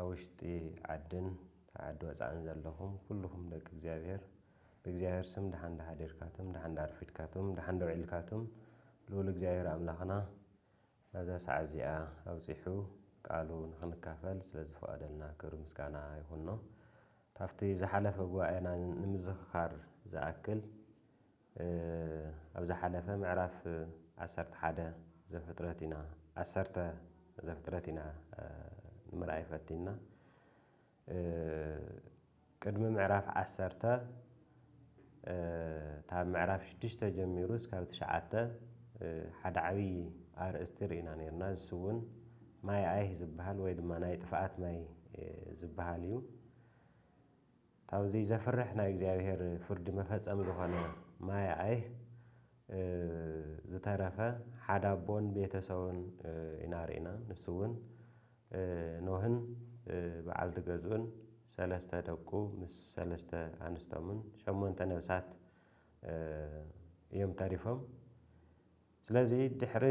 ኣብ ውሽጢ ዓድን ዓዲ ወጻእን ዘለኹም ኩሉኹም ደቂ እግዚኣብሔር ብእግዚኣብሔር ስም ደሓን ደሓዲርካቱም ደሓን ደኣርፊድካቱም ደሓን ደውዒልካቱም ልኡል እግዚኣብሔር ኣምላኽና ናዛ ሰዓት እዚኣ ኣብጺሑ ቃሉ ንኽንካፈል ስለ ዝፈቐደልና ክብሪ ምስጋና ይኹኖ። ካብቲ ዝሓለፈ ጉባኤና ንምዝኽኻር ዝኣክል ኣብ ዝሓለፈ ምዕራፍ ዓሰርተ ሓደ ዘፍጥረት ኢና ዓሰርተ ዘፍጥረት ኢና ንምርኣይ ፈቲንና ቅድሚ ምዕራፍ ዓሰርተ ካብ ምዕራፍ ሽዱሽተ ጀሚሩ እስካብ ትሽዓተ ሓደ ዓብዪ ኣርእስቲ ርኢና ነርና ንሱ እውን ማይ ኣይህ ዝበሃል ወይ ድማ ናይ ጥፍኣት ማይ ዝበሃል እዩ ካብዚ ዘፍርሕ ናይ እግዚኣብሔር ፍርዲ መፈጸሚ ዝኾነ ማይ ኣይህ ዝተረፈ ሓደ ኣቦን ቤተ ሰቡን ኢና ርኢና ንሱ እውን ኖህን በዓልቲ ገዝኡን ሰለስተ ደቁ ምስ ሰለስተ ኣንስቶምን ሸሞንተ ነብሳት እዮም ተሪፎም ስለዚ ድሕሪ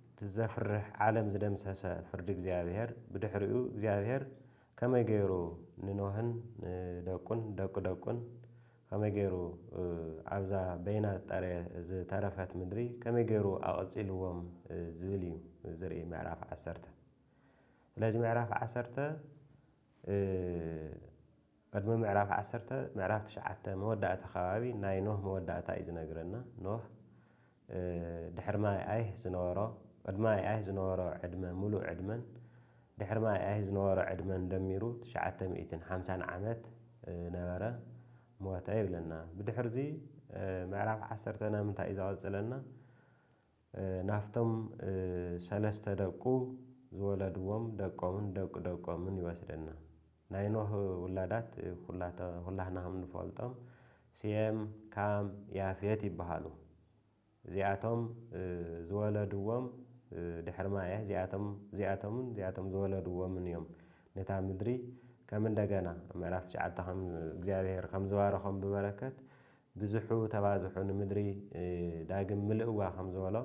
እቲ ዘፍርሕ ዓለም ዝደምሰሰ ፍርዲ እግዚኣብሄር ብድሕሪኡ እግዚኣብሄር ከመይ ገይሩ ንኖህን ንደቁን ደቂ ደቁን ከመይ ገይሩ ኣብዛ በይና ዝጠረ ዝተረፈት ምድሪ ከመይ ገይሩ ኣቐጺልዎም ዝብል እዩ ዝርኢ ምዕራፍ ዓሰርተ ስለዚ ምዕራፍ ዓሰርተ ቅድሚ ምዕራፍ ዓሰርተ፣ ምዕራፍ ትሽዓተ መወዳእታ ከባቢ ናይ ኖህ መወዳእታ እዩ ዝነግረና። ኖህ ድሕሪ ማይ ኣይህ ዝነበሮ ቅድሚ ማይ ኣይህ ዝነበሮ ዕድመ ምሉእ ዕድመን ድሕሪ ማይ ኣይህ ዝነበሮ ዕድመን ደሚሩ ትሽዓተ ሚእትን ሓምሳን ዓመት ነበረ ሞተ ይብለና። ብድሕርዚ ምዕራፍ ዓሰርተ ናምንታይ እዩ ዘቐጽለና? ናብቶም ሰለስተ ደቁ ዝወለድዎም ደቆምን ደቂ ደቆምን ይወስደና። ናይ ኖህ ውላዳት ኩላህና ከም ንፈልጦም ሴም፣ ካም፣ ያፌት ይበሃሉ። እዚኣቶም ዝወለድዎም ድሕሪ ማይ እዚኣቶም እዚኣቶምን እዚኣቶም ዝወለድዎምን እዮም ነታ ምድሪ ከም እንደገና ኣብ ምዕራፍ ትሽዓተ ከም እግዚኣብሄር ከም ዝባረኾም ብበረከት ብዝሑ ተባዝሑ ንምድሪ ዳግም ምልእዋ ከም ዝበሎ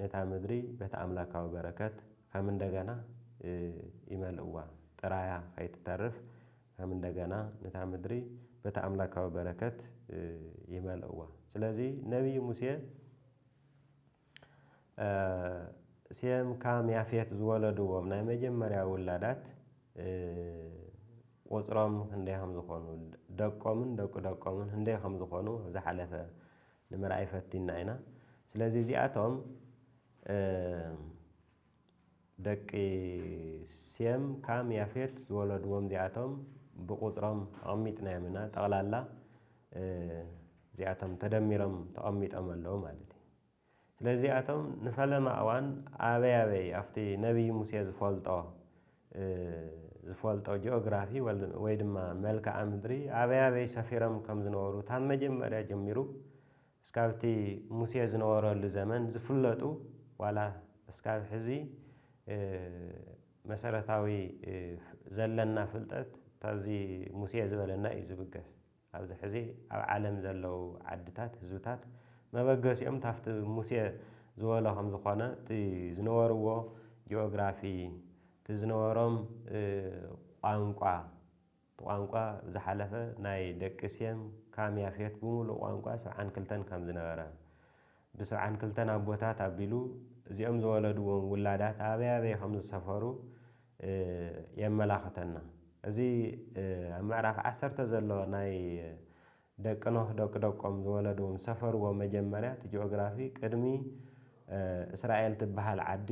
ነታ ምድሪ በቲ ኣምላካዊ በረከት ከም እንደገና ይመልእዋ ጥራያ ከይትተርፍ ከም እንደገና ነታ ምድሪ በቲ ኣምላካዊ በረከት ይመልእዋ ስለዚ ነብይ ሙሴ ሴም ካም ያፌት ዝወለድዎም ናይ መጀመርያ ውላዳት ቁጽሮም ክንደይ ከም ዝኾኑ ደቆምን ደቂ ደቆምን ክንደይ ከም ዝኾኑ ኣብ ዝሓለፈ ንምርኣይ ፈቲና ኢና። ስለዚ እዚኣቶም ደቂ ሴም፣ ካም፣ ያፌት ዝወለድዎም እዚኣቶም ብቑጽሮም ኣቐሚጥናዮም ኢና። ጠቕላላ እዚኣቶም ተደሚሮም ተቐሚጦም ኣለዉ ማለት እዩ። ስለዚ እዚኣቶም ንፈለማ እዋን ኣበይ ኣበይ ኣብቲ ነብዪ ሙሴ ዝፈልጦ ዝፈልጦ ጂኦግራፊ ወይ ድማ መልክኣ ምድሪ ኣበይ ኣበይ ሰፊሮም ከም ዝነበሩ ካብ መጀመርያ ጀሚሩ እስካብቲ ሙሴ ዝነበረሉ ዘመን ዝፍለጡ ዋላ እስካብ ሕዚ መሰረታዊ ዘለና ፍልጠት ታብዚ ሙሴ ዝበለና እዩ ዝብገስ። ኣብዚ ሕዚ ኣብ ዓለም ዘለው ዓድታት ህዝብታት መበገሲኦም ታፍቲ ሙሴ ዝበሎ ከምዝኾነ እቲ ዝነበርዎ ጂኦግራፊ እቲ ዝነበሮም ቋንቋ፣ ብቋንቋ ዝሓለፈ ናይ ደቂ ሴም ካም ያፌት ብምሉእ ቋንቋ ስብዓን ክልተን ከም ዝነበረ፣ ብስብዓን ክልተን ኣቦታት ኣቢሉ እዚኦም ዝወለድዎም ውላዳት ኣበይ ኣበይ ከም ዝሰፈሩ የመላኽተና። እዚ ኣብ ምዕራፍ ዓሰርተ ዘሎ ናይ ደቂ ኖህ ደቂ ደቆም ዝወለዱ ምስ ሰፈርዎ መጀመርያ እቲ ጂኦግራፊ ቅድሚ እስራኤል ትበሃል ዓዲ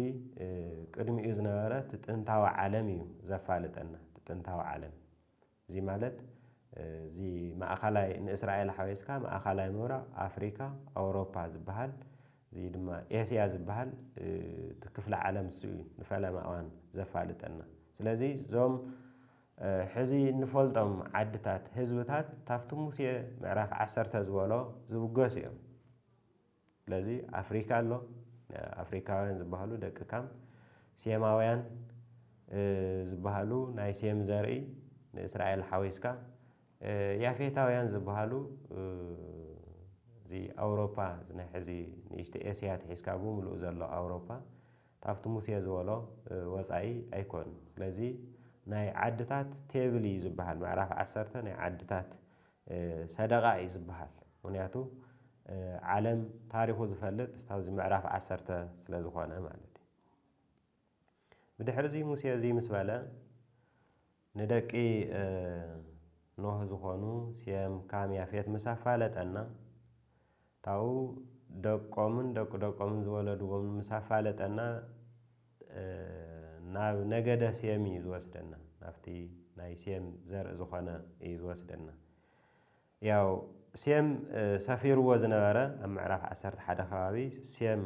ቅድሚኡ ዝነበረ እቲ ጥንታዊ ዓለም እዩ ዘፋልጠና እቲ ጥንታዊ ዓለም እዚ ማለት እዚ ማእኸላይ ንእስራኤል ሓዊስካ ማእኸላይ ምብራቕ ኣፍሪካ ኣውሮፓ ዝበሃል እዚ ድማ ኤስያ ዝበሃል እቲ ክፍለ ዓለም እሱ እዩ ንፈለማ እዋን ዘፋልጠና ስለዚ እዞም ሕዚ እንፈልጦም ዓድታት ህዝብታት ታፍቲ ሙሴ ምዕራፍ ዓሰርተ ዝበሎ ዝብገሱ እዮም። ስለዚ ኣፍሪካ ኣሎ ኣፍሪካውያን ዝበሃሉ ደቂ ካም ሴማውያን ዝበሃሉ ናይ ሴም ዘርኢ ንእስራኤል ሓዊስካ ያፌታውያን ዝበሃሉ እዚ ኣውሮፓ ናይ ሕዚ ንእሽተ ኤስያ ትሒዝካ ብምሉእ ዘሎ ኣውሮፓ ካብቲ ሙሴ ዝበሎ ወጻኢ ኣይኮን ስለዚ ናይ ዓድታት ቴብል እዩ ዝብሃል ምዕራፍ ዓሰርተ ናይ ዓድታት ሰደቓ እዩ ዝብሃል ምክንያቱ ዓለም ታሪኹ ዝፈልጥ ካብዚ ምዕራፍ ዓሰርተ ስለ ዝኾነ ማለት እዩ ብድሕሪ እዚ ሙሴ እዚ ምስ በለ ንደቂ ኖህ ዝኾኑ ሴም፣ ካም፣ ያፌት ምስ ኣፋለጠና፣ ካብኡ ደቆምን ደቂ ደቆምን ዝወለድዎም ምስ ኣፋለጠና ናብ ነገደ ሴም እዩ ዝወስደና፣ ናብቲ ናይ ሴም ዘርኢ ዝኾነ እዩ ዝወስደና። ያው ሴም ሰፊርዎ ዝነበረ ኣብ ምዕራፍ ዓሰርተ ሓደ ከባቢ ሴም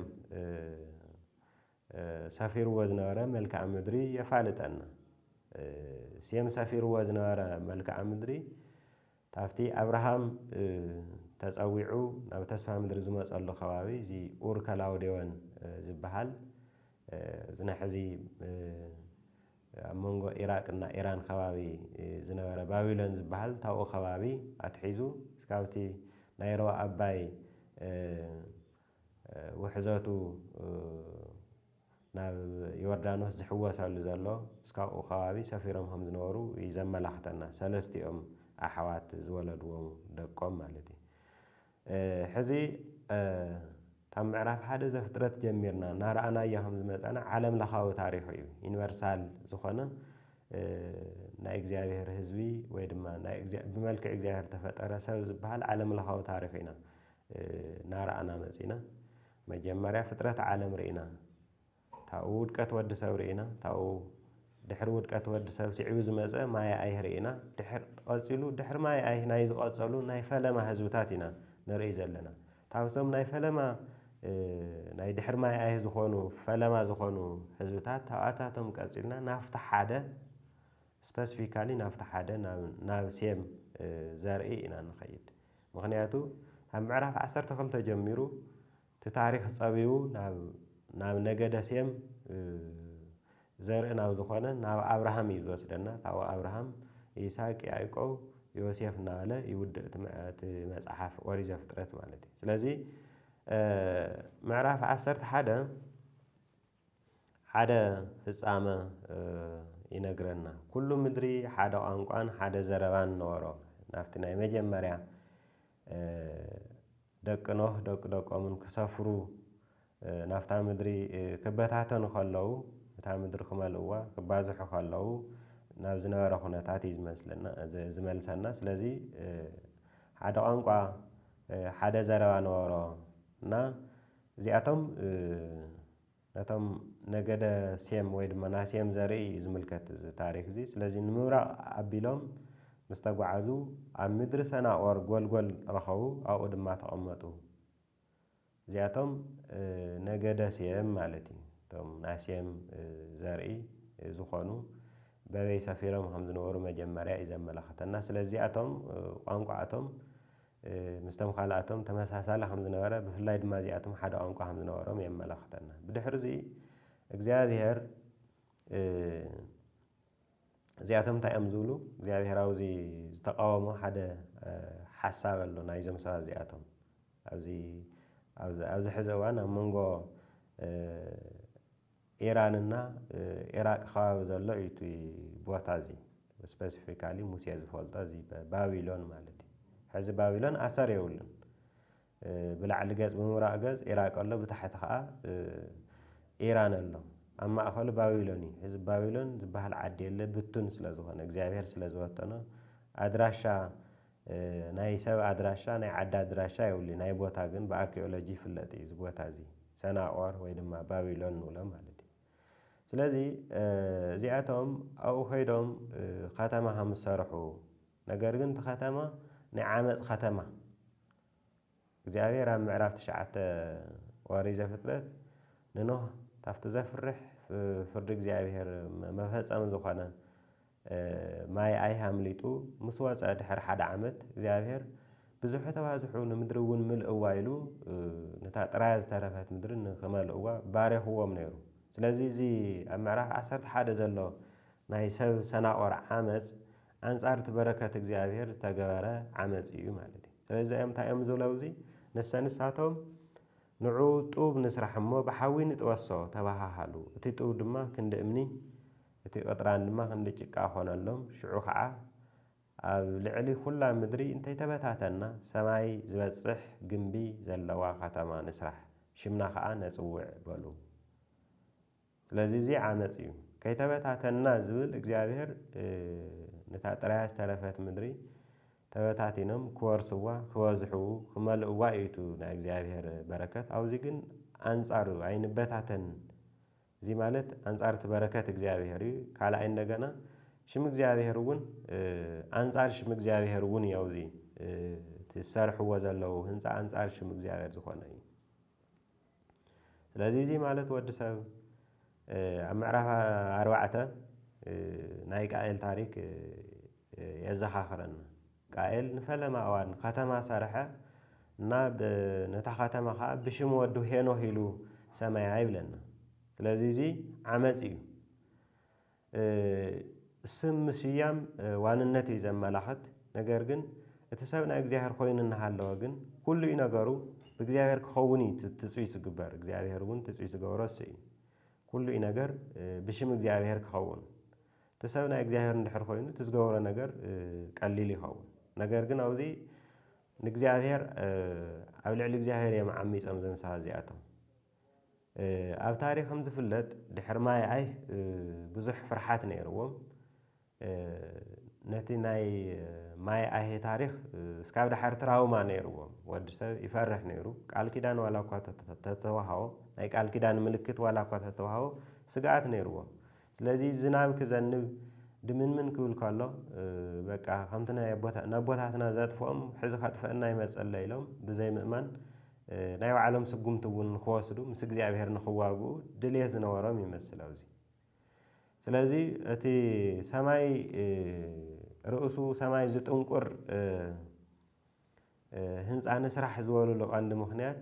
ሰፊርዎ ዝነበረ መልክኣ ምድሪ የፋልጠና። ሴም ሰፊርዎ ዝነበረ መልክኣ ምድሪ ታፍቲ ኣብርሃም ተጸዊዑ ናብ ተስፋ ምድሪ ዝመጸሉ ከባቢ እዚ ኡር ከላውዴዎን ዝበሃል እዚ ናይ ሕዚ ኣብ መንጎ ኢራቅ እና ኢራን ከባቢ ዝነበረ ባቢሎን ዝበሃል ታብኡ ከባቢ ኣትሒዙ እስካብቲ ናይ ሮባ ኣባይ ውሕዘቱ ናብ ዮርዳኖስ ዝሕወሰሉ ዘሎ ምስ ካብኡ ከባቢ ሰፊሮም ከም ዝነበሩ እዩ ዘመላኽተና ሰለስቲኦም ኣሕዋት ዝወለድዎ ደቆም ማለት እዩ ሕዚ ካብ ምዕራፍ ሓደ ዘፍጥረት ጀሚርና እናረኣናዮ ከም ዝመጻና ዓለም ለኻዊ ታሪኹ እዩ ዩኒቨርሳል ዝኾነ ናይ እግዚኣብሄር ህዝቢ ወይ ድማ ናይ ብመልክዕ እግዚኣብሄር ዝተፈጠረ ሰብ ዝብሃል ዓለም ለኻዊ ታሪኹ ኢና እናረኣና መጺእና መጀመርያ ፍጥረት ዓለም ርኢና ታብኡ ውድቀት ወዲ ሰብ ርኢና ታብኡ ድሕሪ ውድቀት ወዲ ሰብ ሲዕቡ ዝመጸ ማየ ኣይህ ርኢና ድሕር ቐጺሉ ድሕሪ ማየ ኣይህ ናይ ዝቐጸሉ ናይ ፈለማ ህዝብታት ኢና ንርእይ ዘለና ታብቶም ናይ ፈለማ ናይ ድሕሪ ማየ ኣይህ ዝኾኑ ፈለማ ዝኾኑ ህዝብታት ታብኣታቶም ቀጺልና ናብቲ ሓደ ስፐስፊካሊ ናብቲ ሓደ ናብ ሴም ዘርኢ ኢና ንኸይድ ምኽንያቱ ካብ ምዕራፍ ዓሰርተ ክልተ ጀሚሩ እቲ ታሪኽ ጸቢቡ ናብ ናብ ነገደ ሴም ዘርኢ ናብ ዝኾነ ናብ ኣብርሃም እዩ ዝወስደና ካብኡ ኣብርሃም ይስሐቅ ያዕቆብ ዮሴፍ እናበለ ይውድእ እቲ መጽሓፍ ኦሪት ዘፍጥረት ማለት እዩ ስለዚ ምዕራፍ ዓሰርተ ሓደ ሓደ ፍጻመ ይነግረና። ኩሉ ምድሪ ሓደ ቋንቋን ሓደ ዘረባን ነበሮ። ናብቲ ናይ መጀመርያ ደቂ ኖህ ደቂ ደቆምን ክሰፍሩ ናብታ ምድሪ ክበታተኑ ከለዉ እታ ምድሪ ክመልእዋ ክባዝሑ ከለዉ ናብ ዝነበረ ኩነታት እዩ ዝመስለና ዝመልሰና። ስለዚ ሓደ ቋንቋ ሓደ ዘረባ ነበሮ እና እዚኣቶም ነቶም ነገደ ሴም ወይ ድማ ናይ ሴም ዘርኢ እዩ ዝምልከት እዚ ታሪኽ እዚ። ስለዚ ንምብራቕ ኣቢሎም ምስ ተጓዓዙ ኣብ ምድሪ ሰናዖር ጎልጎል ረኸቡ፣ ኣብኡ ድማ ተቐመጡ። እዚኣቶም ነገደ ሴም ማለት እዩ። እቶም ናይ ሴም ዘርኢ ዝኾኑ በበይ ሰፊሮም ከም ዝነበሩ መጀመርያ እዩ ዘመላኽተና። ስለዚ እዚኣቶም ቋንቋ እቶም ምስቶም ካልኣቶም ተመሳሳሊ ከም ዝነበረ፣ ብፍላይ ድማ እዚኣቶም ሓደ ቋንቋ ከም ዝነበሮም የመላኽተና። ብድሕርዚ እግዚኣብሄር እዚኣቶም እንታይ እዮም ዝብሉ? እግዚኣብሄር ኣብዚ ዝተቃወሞ ሓደ ሓሳብ ኣሎ ናይዞም ሰባት እዚኣቶም ኣብዚ ኣብዚ ሕዚ እዋን ኣብ መንጎ ኢራን እና ኢራቅ ከባቢ ዘሎ እዩ እቲ ቦታ እዚ ስፐሲፊካሊ ሙሴ ዝፈልጦ እዚ ባቢሎን ማለት እዩ ሕዚ ባቢሎን ኣሰር የብሉን ብላዕሊ ገጽ ብምብራቅ ገጽ ኢራቅ ኣሎ ብታሕቲ ከዓ ኢራን ኣሎ ኣብ ማእኸሉ ባቢሎን እዩ ሕዚ ባቢሎን ዝበሃል ዓዲ የለ ብቱን ስለ ዝኾነ እግዚኣብሔር ስለ ዝበተኖ ኣድራሻ ናይ ሰብ ኣድራሻ ናይ ዓዲ ኣድራሻ የብሉይ ናይ ቦታ ግን ብኣርኪኦሎጂ ይፍለጥ እዩ እዚ ቦታ እዚ ሰናቆር ወይ ድማ ባቢሎን ንብሎ ማለት እዩ ስለዚ እዚኣቶም ኣብኡ ከይዶም ከተማ ከም ዝሰርሑ ነገር ግን እቲ ከተማ ናይ ዓመፅ ከተማ እግዚኣብሄር ኣብ ምዕራፍ ትሽዓተ ኦሪት ዘፍጥረት ንኖህ ካብቲ ዘፍርሕ ፍርዲ እግዚኣብሄር መፈጸሚ ዝኾነ ማይ ኣይ ኣምሊጡ ምስ ወጸ ድሕሪ ሓደ ዓመት እግዚኣብሄር ብዝሑ ተባዝሑ ንምድሪ እውን ምልእዋ ኢሉ ነታ ጥራያ ዝተረፈት ምድሪ ንክመልእዋ ባሪኽዎም ነይሩ። ስለዚ እዚ ኣብ ምዕራፍ ዓሰርተ ሓደ ዘሎ ናይ ሰብ ሰናቆር ዓመጽ ኣንጻር እቲ በረከት እግዚኣብሔር ዝተገበረ ዓመጽ እዩ ማለት እዩ። ስለዚ እዚኦም እንታይ እዮም ዝብሉ ኣብዚ ንሰ ንሳቶም ንዑ ጡብ ንስራሕ እሞ ብሓዊ ንጥበሶ ተበሃሃሉ። እቲ ጡብ ድማ ክንዲ እምኒ እቲ ቅጥራን ድማ ክንዲ ጭቃ ኮነሎም። ሽዑ ከዓ ኣብ ልዕሊ ኩላ ምድሪ እንተይተበታተንና ሰማይ ዝበጽሕ ግምቢ ዘለዋ ከተማ ንስራሕ፣ ሽምና ከዓ ነጽውዕ በሉ። ስለዚ እዚ ዓመጽ እዩ። ከይተበታተንና ዝብል እግዚኣብሔር ነታ ጥራያ ዝተረፈት ምድሪ ተበታቲኖም ክወርስዋ ክበዝሑ ክመልእዋ እዩ እቱ ናይ እግዚኣብሔር በረከት ኣውዚ ግን ኣንጻሩ እዩ ኣይንበታተን እዚ ማለት ኣንጻር እቲ በረከት እግዚኣብሔር እዩ ካልኣይ እንደገና ሽም እግዚኣብሔር እውን ኣንጻር ሽም እግዚኣብሔር እውን እዩ ኣውዚ እቲ ዝሰርሕዎ ዘለዉ ህንጻ ኣንጻር ሽም እግዚኣብሔር ዝኾነ እዩ። ስለዚ እዚ ማለት ወዲ ሰብ ኣብ ምዕራፍ ኣርባዕተ ናይ ቃኤል ታሪክ የዘኻኽረና። ቃኤል ንፈለማ እዋን ኸተማ ሰርሐ እና ነታ ኸተማ ኸዓ ብሽም ወዱ ሄኖህ ኢሉ ሰመያ ይብለና። ስለዚ እዚ ዓመፅ እዩ። ስም ምስያም ዋንነት እዩ ዘመላኽት፣ ነገር ግን እቲ ሰብ ናይ እግዚኣብሔር ኮይኑ እናሃለወ ግን ኩሉ እዩ ነገሩ ብእግዚኣብሔር ክኸውን እዩ እቲ ትጽቢት ዝግበር፣ እግዚኣብሔር እውን ትጽቢት ዝገብሮ እሱ እዩ። ኩሉ እዩ ነገር ብሽም እግዚኣብሔር ክኸውን። እቲ ሰብ ናይ እግዚኣብሔር እንድሕር ኮይኑ እቲ ዝገብሮ ነገር ቀሊል ይኸውን። ነገር ግን ኣብዚ ንእግዚኣብሔር ኣብ ልዕሊ እግዚኣብሔር እዮም ዓሚጾም እዞም ሰባት እዚኣቶም። ኣብ ታሪኽ ከም ዝፍለጥ ድሕሪ ማይ ኣይ ብዙሕ ፍርሓት ነይርዎም ነቲ ናይ ማይ ኣይ ታሪኽ እስካብ ድሓር ትራውማ ነይርዎም ወዲ ሰብ ይፈርሕ ነይሩ ቃል ኪዳን ዋላ እኳ ተተዋሃቦ ናይ ቃል ኪዳን ምልክት ዋላ እኳ ተተዋሃቦ ስግኣት ነይርዎም ስለዚ ዝናብ ክዘንብ ድምንምን ክብል ከሎ በቃ ከምቲ ናይ ኣቦታ ነቦታትና ዘጥፍኦም ሕዚ ከጥፍአና ይመጸሎ ኢሎም ብዘይ ምእማን ናይ ባዕሎም ስጉምቲ እውን ንክወስዱ ምስ እግዚኣብሔር ንክዋግኡ ድልየት ዝነበሮም ይመስል ኣብዚ ስለዚ እቲ ሰማይ ርእሱ ሰማይ ዝጥንቁር ህንጻ ንስራሕ ዝበሉሉ ቀንዲ ምኽንያት፣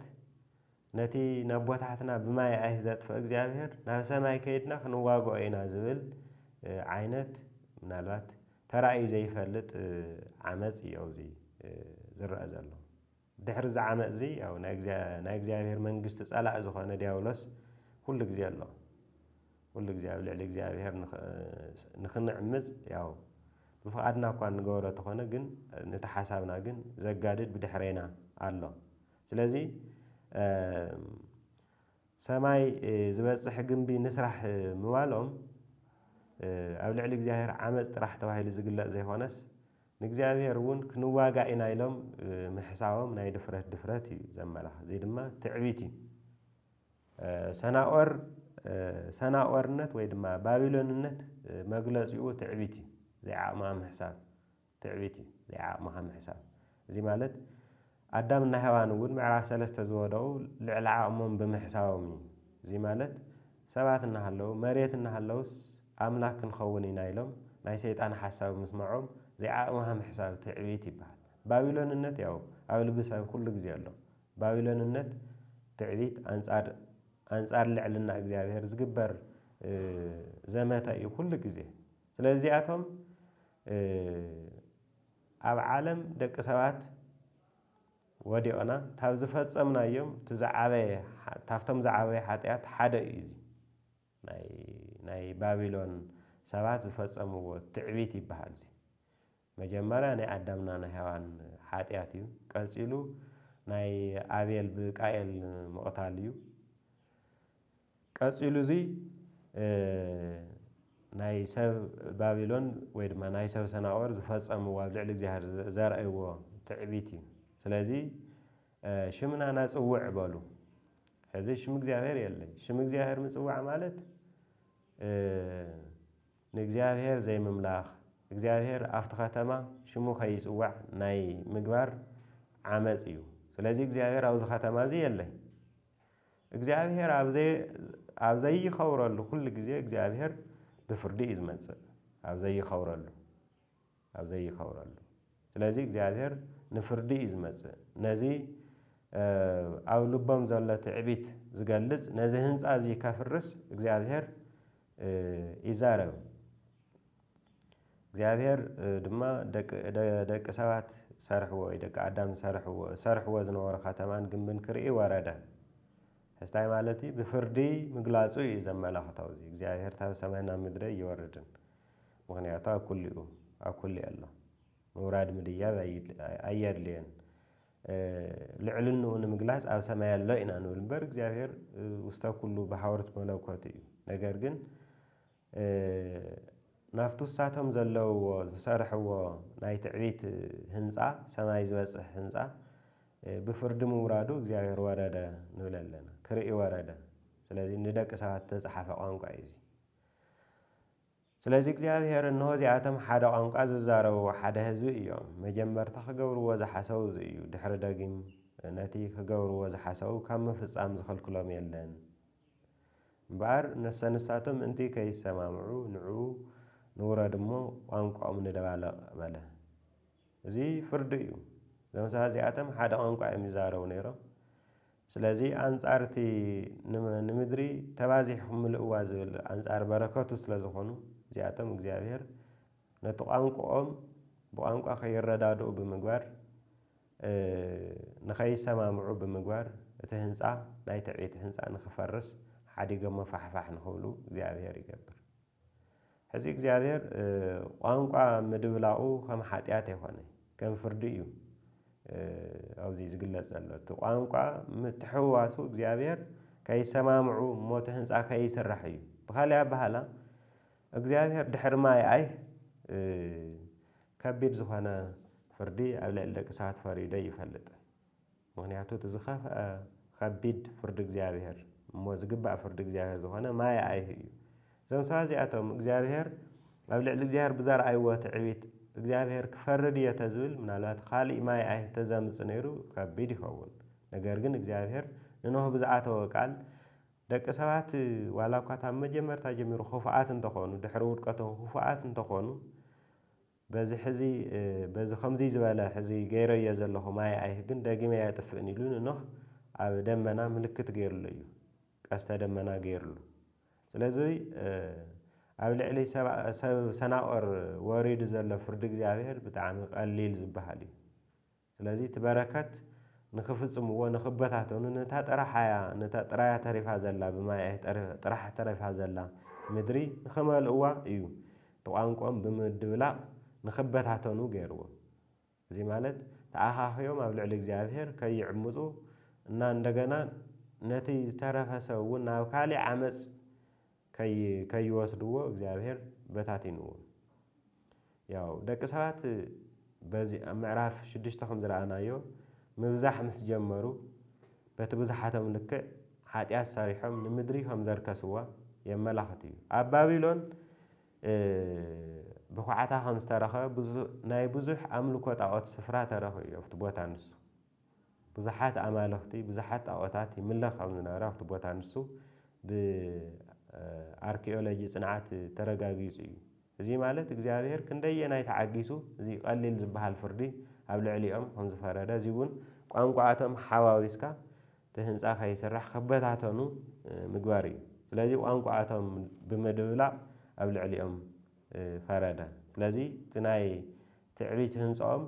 ነቲ ነቦታትና ብማይ ኣይሂ ዘጥፍኦ እግዚኣብሄር ናብ ሰማይ ከይድና ክንዋግኦ ኢና ዝብል ዓይነት ምናልባት ተራእዩ ዘይፈልጥ ዓመጽ እዩ ኣብዚ ዝረኣ ዘሎ። ድሕሪ እዚ ዓመጽዚ ያው ናይ እግዚኣብሄር መንግስቲ ጸላኢ ዝኾነ ዲያብሎስ ኩሉ ግዜ ኣሎ። ኩሉ ግዜ ኣብ ልዕሊ እግዚኣብሔር ንክንዕምፅ ያው ብፍቃድና እኳ እንገብሮ ተኾነ ግን ነቲ ሓሳብና ግን ዘጋድድ ብድሕሬና ኣሎ ስለዚ ሰማይ ዝበፅሕ ግንቢ ንስራሕ ምባሎም ኣብ ልዕሊ እግዚኣብሔር ዓመፅ ጥራሕ ተባሂሉ ዝግለፅ ዘይኾነስ ንእግዚኣብሔር እውን ክንዋጋእ ኢና ኢሎም ምሕሳቦም ናይ ድፍረት ድፍረት እዩ ዘመላኽ እዚ ድማ ትዕቢት እዩ። ሰናዖር፣ ሰናዖርነት ወይ ድማ ባቢሎንነት መግለጺኡ ትዕቢት እዩ፣ ዘይዓቕምኻ ምሕሳብ። ትዕቢት እዩ፣ ዘይዓቕምኻ ምሕሳብ። እዚ ማለት ኣዳም እና ሄዋን እውን ምዕራፍ ሰለስተ ዝወደቑ ልዕሊ ዓቕሞም ብምሕሳቦም እዩ። እዚ ማለት ሰባት እናሃለዉ፣ መሬት እናሃለውስ ኣምላኽ ክንኸውን ኢና ኢሎም ናይ ሰይጣን ሓሳብ ምስመዖም ዘይዓቕምኻ ምሕሳብ ትዕቢት ይበሃል። ባቢሎንነት ያው ኣብ ልቢ ሰብ ኩሉ ግዜ ኣሎ። ባቢሎንነት ትዕቢት ኣንጻር ኣንጻር ልዕልና እግዚኣብሔር ዝግበር ዘመተ እዩ ኩሉ ግዜ። ስለዚ እዚኣቶም ኣብ ዓለም ደቂ ሰባት ወዲቕና ካብ ዝፈጸምናዮም እቲ ዝዓበየ ካብቶም ዝዓበየ ሓጢኣት ሓደ እዩ እዚ ናይ ናይ ባቢሎን ሰባት ዝፈጸምዎ ትዕቢት ይበሃል እዚ መጀመርያ ናይ ኣዳምና ናይ ሄዋን ሓጥያት እዩ ቀጺሉ ናይ ኣቤል ብቃኤል ምቕታል እዩ ቀጺሉ እዙይ ናይ ሰብ ባቢሎን ወይ ድማ ናይ ሰብ ሰናኦር ዝፈጸምዎ ኣብ ልዕሊ እግዚኣብሔር ዘርእይዎ ትዕቢት እዩ ስለዚ ሽምና ናጽውዕ በሉ ሕዚ ሽም እግዚኣብሔር የለን ሽም እግዚኣብሔር ምጽዋዕ ማለት ንእግዚኣብሔር ዘይምምላኽ፣ እግዚኣብሔር ኣብቲ ከተማ ሽሙ ከይጽዋዕ ናይ ምግባር ዓመጽ እዩ። ስለዚ እግዚኣብሔር ኣብዚ ከተማ እዚ የለይ። እግዚኣብሔር ኣብ ዘይኸብረሉ ኩሉ ግዜ እግዚኣብሔር ብፍርዲ እዩ ዝመጽእ። ኣብ ዘይኸብረሉ። ኣብ ዘይከብረሉ ስለዚ እግዚኣብሔር ንፍርዲ እዩ ዝመጽእ ነዚ ኣብ ልቦም ዘሎ ትዕቢት ዝገልጽ ነዚ ህንጻ እዚ ከፍርስ እግዚኣብሔር ይዛረብ እግዚኣብሔር ድማ ደቂ ሰባት ሰርሕዎ ወይ ደቂ ኣዳም ዝሰርሕዎ ዝሰርሕዎ ዝነበሩ ከተማን ግንብን ክርኢ ወረደ ሕስታይ ማለት እዩ ብፍርዲ ምግላጹ እዩ ዘመላኽተው እዚ እግዚኣብሔር ታብ ሰማይ ናብ ምድረ እይወርድን ምኽንያቱ ኣብ ኩሉ'ዩ ኣብ ኩሉ ኣሎ። ምውራድ ምድያብ ኣየድልዮን። ልዕልንኡ ንምግላጽ ኣብ ሰማይ ኣሎ ኢና ንብል እምበር እግዚኣብሔር ውስተ ኩሉ በሃውርት መለኮቱ እዩ። ነገር ግን ናብቲ ውሳቶም ዘለውዎ ዝሰርሕዎ ናይ ትዕቢት ህንፃ ሰማይ ዝበፅሕ ህንፃ ብፍርዲ ምውራዱ እግዚኣብሔር ወረደ ንብል ኣለና ክርኢ ወረደ ስለዚ ንደቂ ሰባት ዝተፅሓፈ ቋንቋ እዩ እዚ ስለዚ እግዚኣብሄር እንሆ እዚኣቶም ሓደ ቋንቋ ዝዛረቡ ሓደ ህዝቢ እዮም። መጀመርታ ክገብርዎ ዝሓሰቡ እዚ እዩ። ድሕሪ ደጊም ነቲ ክገብርዎ ዝሓሰቡ ካብ ምፍጻም ዝኽልክሎም የለን። እምበኣር ነሰንሳቶም ምእንቲ ከይሰማምዑ ንዑ ንውረድ እሞ ቋንቋኦም ንደባልቕ በለ። እዚ ፍርዲ እዩ። እዞም ሰባት እዚኣቶም ሓደ ቋንቋ እዮም ይዛረቡ ነይሮም። ስለዚ ኣንጻር እቲ ንምድሪ ተባዚሕኩም ምልእዋ ዝብል ኣንጻር በረከቱ ስለ ዝኾኑ እዚኣቶም እግዚኣብሄር ነቲ ቋንቁኦም ብቋንቋ ከይረዳድኡ ብምግባር ንኸይሰማምዑ ብምግባር እቲ ህንጻ ናይ ትዕቢት ህንጻ ንኽፈርስ ሓዲገሞ ፋሕፋሕ ንኽብሉ እግዚኣብሄር ይገብር። ሕዚ እግዚኣብሔር ቋንቋ ምድብላቑ ከም ሓጢኣት ኣይኮነ ከም ፍርዲ እዩ ኣብዚ ዝግለጽ ዘሎ እቲ ቋንቋ ምትሕውዋሱ እግዚኣብሔር ከይሰማምዑ እሞ እቲ ህንፃ ከይስራሕ እዩ ብካሊእ ኣባህላ እግዚኣብሔር ድሕሪ ማይ ኣይ ከቢድ ዝኾነ ፍርዲ ኣብ ልዕሊ ደቂ ሰባት ፈሪዶ ይፈልጥ ምኽንያቱ እቲ ዝኸፍኣ ኸቢድ ፍርዲ እግዚኣብሄር እሞ ዝግባእ ፍርዲ እግዚኣብሄር ዝኾነ ማየ ኣይሁ እዩ። እዞም ሰባት እዚኣቶም እግዚኣብሄር ኣብ ልዕሊ እግዚኣብሄር ብዘርኣይዎ ትዕቢት እግዚኣብሄር ክፈርድ እየ ተዝብል ምናልባት ኻሊእ ማየ ኣይሁ ተዘምፅ ነይሩ ኸቢድ ይኸውን። ነገር ግን እግዚኣብሄር ንኖህ ብዝኣተዎ ቃል ደቂ ሰባት ዋላ እኳ ታብ መጀመርታ ጀሚሩ ኽፉኣት እንተኾኑ ድሕሪ ውድቀቶም ኽፉኣት እንተኾኑ በዚ ሕዚ በዚ ኸምዙይ ዝበለ ሕዚ ገይረዮ ዘለኹ ማይ ኣይህ ግን ደጊመ ኣየጥፍእን ኢሉ ንኖህ ኣብ ደመና ምልክት ገይሩሉ እዩ ቀስተ ደመና ገይሩሉ ስለዙይ ኣብ ልዕሊ ሰብ ሰናኦር ወሪዱ ዘሎ ፍርዲ እግዚኣብሔር ብጣዕሚ ቐሊል ዝበሃል እዩ ስለዚ እቲ በረከት ንክፍጽምዎ ንክበታተኑ ነታ ጥራሓያ ነታ ጥራያ ተሪፋ ዘላ ብማያኤ ጥራሕ ተሪፋ ዘላ ምድሪ ንክመልእዋ እዩ እቲ ቋንቁኦም ብምድብላቅ ንክበታተኑ ገይርዎም እዚ ማለት ተኣኻኽዮም ኣብ ልዕሊ እግዚኣብሄር ከይዕምጹ እና እንደገና ነቲ ዝተረፈ ሰብ እውን ናብ ካሊእ ዓመጽ ከይወስድዎ እግዚኣብሔር በታቲንዎም። ያው ደቂ ሰባት በዚ ኣብ ምዕራፍ ሽዱሽተ ከም ዝረኣናዮ ምብዛሕ ምስ ጀመሩ በቲ ብዝሓቶም ልክዕ ሓጢኣት ሰሪሖም ንምድሪ ከም ዘርከስዋ የመላኽት እዩ። ኣብ ባቢሎን ብኳዕታ ከም ዝተረኸበ ናይ ብዙሕ ኣምልኮ ጣዖት ስፍራ ተረኹ እዩ ኣብቲ ቦታ ንሱ። ብዙሓት ኣማልኽቲ፣ ብዙሓት ጣኦታት ይምለኽ ከም ዝነበረ ኣብቲ ቦታ ንሱ ብኣርኪኦሎጂ ጽንዓት ተረጋጊጹ እዩ። እዚ ማለት እግዚኣብሄር ክንደየናይ ተዓጊሱ እዚ ቀሊል ዝበሃል ፍርዲ ኣብ ልዕሊኦም ከም ዝፈረደ እዚ እውን ቋንቋኣቶም ሓዋዊስካ እቲ ህንጻ ከይስራሕ ክበታተኑ ምግባር እዩ። ስለዚ ቋንቋኣቶም ብምድብላቕ ኣብ ልዕሊኦም ፈረደ። ስለዚ እቲ ናይ ትዕቢት ህንጻኦም።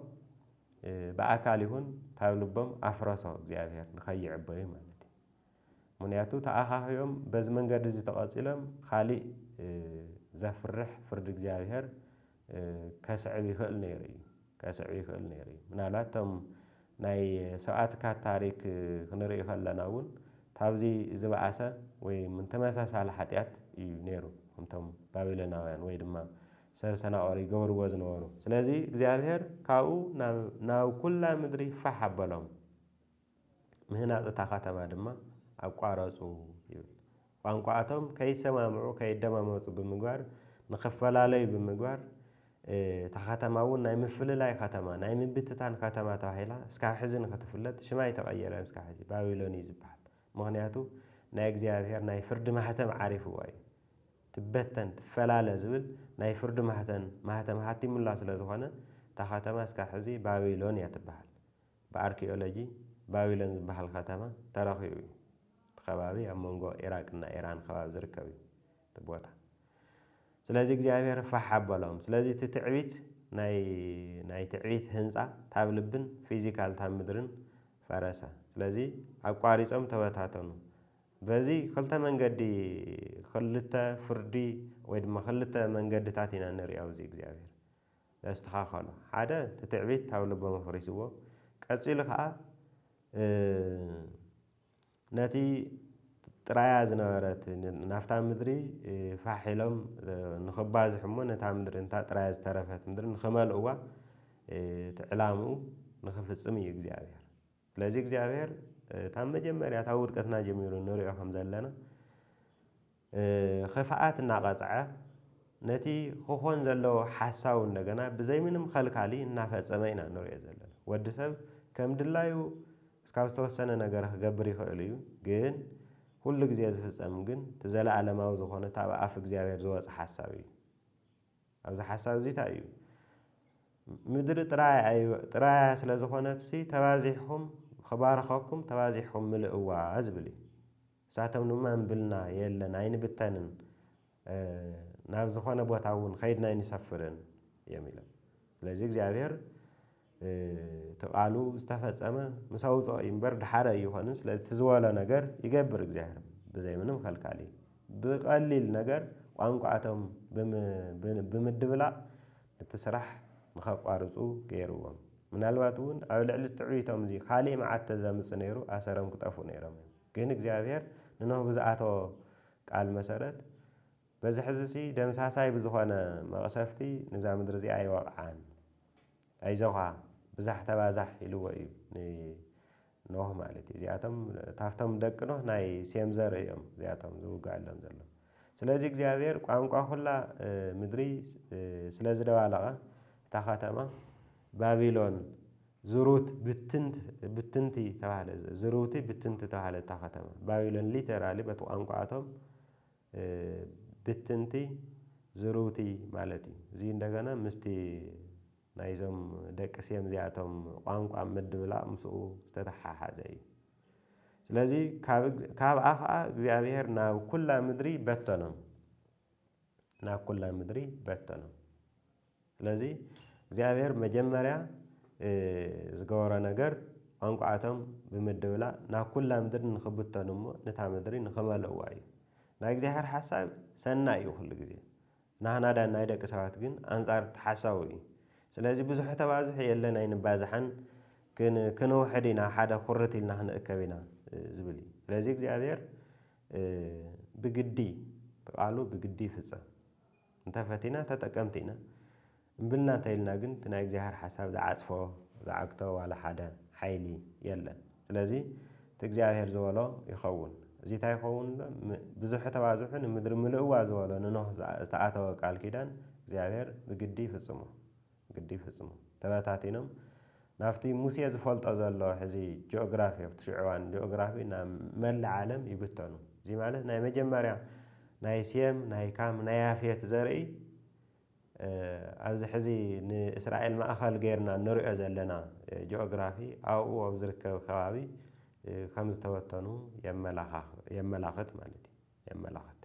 ብኣካል ይኹን ካብ ልቦም ኣፍረሶ እግዚኣብሔር ንከይዕበዩ ማለት እዩ ምክንያቱ ተኣኻኺቦም በዚ መንገዲ እዚ ተቐጺሎም ኻሊእ ዘፍርሕ ፍርዲ እግዚኣብሔር ከስዕብ ይኽእል ነይሩ እዩ ከስዕብ ይኽእል ነይሩ እዩ ምናልባት እቶም ናይ ሰብኣትካ ታሪክ ክንርኢ ከለና እውን ካብዚ ዝበኣሰ ወይ ተመሳሳሊ ሓጢኣት እዩ ነይሩ ከምቶም ባቢሎናውያን ወይ ድማ ሰብ ሰናዖር ይገብርዎ ዝነበሩ። ስለዚ እግዚኣብሄር ካብኡ ናብ ናብ ኵላ ምድሪ ፋሕ ኣበሎም። ምህናጽ እታ ኸተማ ድማ ኣቋረጹ ይብል። ቋንቋኣቶም ከይሰማምዑ፣ ከይደማመጹ ብምግባር፣ ንኽፈላለዩ ብምግባር፣ እታ ኸተማ እውን ናይ ምፍልላይ ኸተማ፣ ናይ ምብትታን ኸተማ ተባሂላ እስካብ ሕዚ ንኽትፍለጥ ሽማ ኣይተቐየረን እስካብ ሕዚ። ባቢሎን እዩ ዝበሃል። ምኽንያቱ ናይ እግዚኣብሄር ናይ ፍርዲ ማሕተም ዓሪፉዋ እዩ። ትበተን ትፈላለ ዝብል ናይ ፍርዲ ማህተን ማህተም ሃቲሙላ ስለ ዝኾነ እታ ከተማ እስካብ ሕዚ ባቢሎን እያ ትበሃል። ብኣርኪኦሎጂ ባቢሎን ዝበሃል ከተማ ተረኺቡ እዩ። እቲ ከባቢ ኣብ መንጎ ኢራቅ እና ኢራን ከባቢ ዝርከብ እዩ እቲ ቦታ። ስለዚ እግዚኣብሔር ፋሕ ኣበሎም። ስለዚ እቲ ትዕቢት ናይ ናይ ትዕቢት ህንጻ ታብ ልብን ፊዚካል ታብ ምድርን ፈረሰ። ስለዚ ኣቋሪጾም ተበታተኑ። በዚ ክልተ መንገዲ ክልተ ፍርዲ ወይ ድማ ክልተ መንገድታት ኢና ንሪኦ ኣብዚ እግዚኣብሄር ዘስተኻኸሎ ሓደ እቲ ትዕቢት ኣብ ልቦም ኣፍሪስዎ ቀፂሉ ከዓ ነቲ ጥራያ ዝነበረት ናብታ ምድሪ ፋሕ ኢሎም ንኽባዝሑ እሞ ነታ ምድሪ እንታ ጥራያ ዝተረፈት ምድሪ ንኽመልእዋ እቲ ዕላምኡ ንኽፍፅም እዩ እግዚኣብሄር ስለዚ እግዚኣብሔር ካብ መጀመርያ ካብ ውድቀትና ጀሚሩ ንሪኦ ከም ዘለና ኽፍኣት እናቐጽዐ ነቲ ክኾን ዘለዎ ሓሳቡ እንደገና ብዘይ ምንም ኸልካሊ እናፈጸመ ኢና ንሪኦ ዘለና። ወዲ ሰብ ከም ድላዩ እስካብ ዝተወሰነ ነገር ክገብር ይኽእል እዩ ግን ኩሉ ግዜ ዝፍጸም ግን እቲ ዘለኣለማዊ ዝኾነ እቲ ኣብ ኣፍ እግዚኣብሔር ዝወጸ ሓሳብ እዩ። ኣብዚ ሓሳብ እዚ ታይ እዩ ምድሪ ጥራይ ኣዩ ጥራያ ስለ ዝኾነትሲ ተባዚሕኹም ኽባርኸኩም ተባዚሕኹም ምልእዋ ዝብል እዩ ንሳቶም ድማ እምብልና የለን ኣይንብተንን ናብ ዝኾነ ቦታ እውን ኸይድና ኣይንሰፍርን እዮም ኢሎም ስለዚ እግዚኣብሔር እቲ ቃሉ ዝተፈጸመ ምስ ኣውጽኦ እዩ እምበር ድሓረ ኣይኾንን ስለዚ እቲ ዝበሎ ነገር ይገብር እግዚኣብሔር ብዘይ ምንም ከልካሊ ብቀሊል ነገር ቋንቋቶም ብምድብላቅ ነቲ ስራሕ ንከቋርጹ ገይርዎም ምናልባት እውን ኣብ ልዕሊ ትዕቢቶም እዚ ካሊእ መዓት ተዘምጽ ነይሩ ኣሰሮም ክጠፍኡ ነይሮም እዮም ግን እግዚኣብሔር ንኖህ ብዝኣተዎ ቃል መሰረት በዚ ሕዚሲ ደምሳሳይ ብዝኾነ መቕሰፍቲ ንዛ ምድሪ እዚኣ ኣይወቕዓን። ኣይዞኻ ብዛሕ ተባዛሕ ኢልዎ እዩ ንኖህ ማለት እዩ። እዚኣቶም ታፍቶም ደቂ ኖህ ናይ ሴም ዘርኢ እዮም እዚኣቶም ዝውግኣሎም ዘሎ። ስለዚ እግዚኣብሔር ቋንቋ ኩላ ምድሪ ስለ ዝደባለቐ እታ ከተማ ባቢሎን ዝሩት ብትንት ብትንቲ ተባህለ ዝርውቲ ብትንቲ ተባህለ እታ ከተማ ባቢሎን ሊተራሊ በቲ ቋንቋኣቶም ብትንቲ ዝርውቲ ማለት እዩ። እዚ እንደገና ምስቲ ናይዞም ደቂ ሴም እዚኣቶም ቋንቋ ምድብላቕ ምስኡ ዝተተሓሓዘ እዩ። ስለዚ ካብኣ ኸዓ እግዚኣብሔር ናብ ኩላ ምድሪ በተኖም። ናብ ኩላ ምድሪ በተኖም። ስለዚ እግዚኣብሔር መጀመርያ ዝገበሮ ነገር ቋንቋኣቶም ብምድብላቅ ናብ ኩላ ምድሪ ንክብተኑ እሞ ንታ ምድሪ ንክመልእዋ እዩ። ናይ እግዚኣብሔር ሓሳብ ሰናይ እዩ ኩሉ ግዜ። ናህና ዳን ናይ ደቂ ሰባት ግን ኣንጻር እቲ ሓሳቡ እዩ። ስለዚ ብዙሑ ተባዝሑ የለን ኣይንባዛሓን ክንውሕድ ኢና ሓደ ኩርት ኢልና ክንእከብ ኢና ዝብል እዩ። ስለዚ እግዚኣብሔር ብግዲ እቲ ቃሉ ብግዲ ይፍጸም። እንተፈቲና ተጠቀምቲ ኢና እምብልና እንተኢልና ግን እቲ ናይ እግዚኣብሔር ሓሳብ ዝዓጽፎ ዝዓግቶ ዋላ ሓደ ሓይሊ የለን ስለዚ እቲ እግዚኣብሔር ዝበሎ ይኸውን እዚ ታይ ይኸውን ብዙሑ ተባዝሑ ንምድሪ ምልእዋ ዝበሎ ንኖህ ዝተኣተወ ቃል ኪዳን እግዚኣብሔር ብግዲ ይፍጽሞ። ግዲ ይፍጽሙ። ተበታቲኖም ናብቲ ሙሴ ዝፈልጦ ዘሎ ሕዚ ጂኦግራፊ ኣብቲ ሽዑ እዋን ጂኦግራፊ ናብ መላእ ዓለም ይብተኑ። እዚ ማለት ናይ መጀመርያ ናይ ሴም፣ ናይ ካም፣ ናይ ያፌት ዘርኢ ኣብዚ ሕዚ ንእስራኤል ማእከል ገይርና እንርእዮ ዘለና ጂኦግራፊ ኣብኡ ኣብ ዝርከብ ከባቢ ከም ዝተበተኑ የመላኽት ማለት እዩ። የመላኽት።